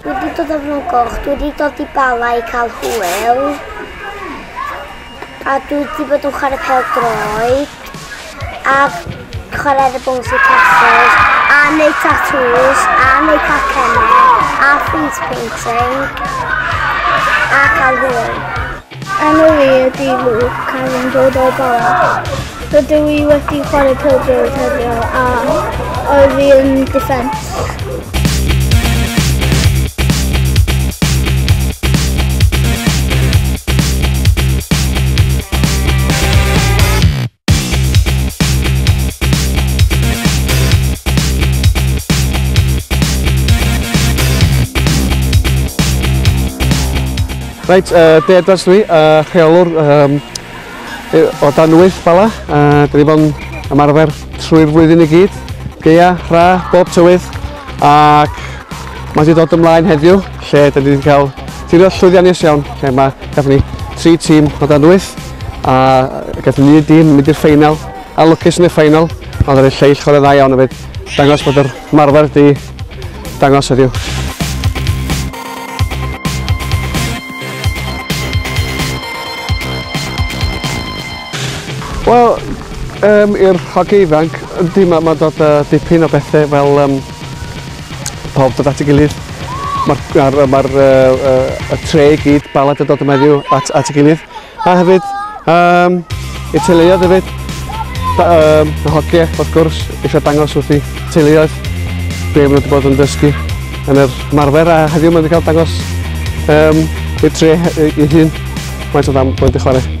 Dwi wedi dod o Fron Goch, dwi wedi dod i Bala i cael hwyl. A dwi wedi bod yn chwarae pel droed. A chwarae ar y bouncy castles. A neud tattoos. A neud cacennau. A face painting. A cael hwyl. Enw fi ydi Luke, cael yn dod o'r bara. Rydw i wedi chwarae pildrod heddiw a oedd fi yn defence. Reit, uh, Dave Dudley, uh, rheolwr um, o dan wyth bala. Uh, Dyn ni bod yn ymarfer trwy'r flwyddyn i gyd. Geia, rha, bob tywydd. Ac mae wedi dod ymlaen heddiw, lle dyn ni wedi cael tirio'r llwyddiannus iawn, lle mae gafon ni tri tîm o dan wyth. A gaethon ni dîm mynd i'r ffeinal, a lwcus yn y ffeinal, ond yr lleill chwarae dda iawn hefyd. Dangos bod yr marfer di dangos heddiw. Wel, um, i'r hogi ifanc, ydy mae ma dod uh, dipyn o bethau fel um, pawb dod at ei gilydd. Mae'r ma, ma, ma uh, uh, y tre i gyd balad yn dod yma heddiw at, at ei gilydd. A hefyd, um, i'r teuluoedd hefyd, um, y hogiau, wrth gwrs, eisiau dangos wrth i teuluoedd be maen nhw wedi bod yn dysgu yn yr marfer a heddiw maen nhw wedi cael dangos um, i'r tre ei hun faint o dda maen nhw chwarae.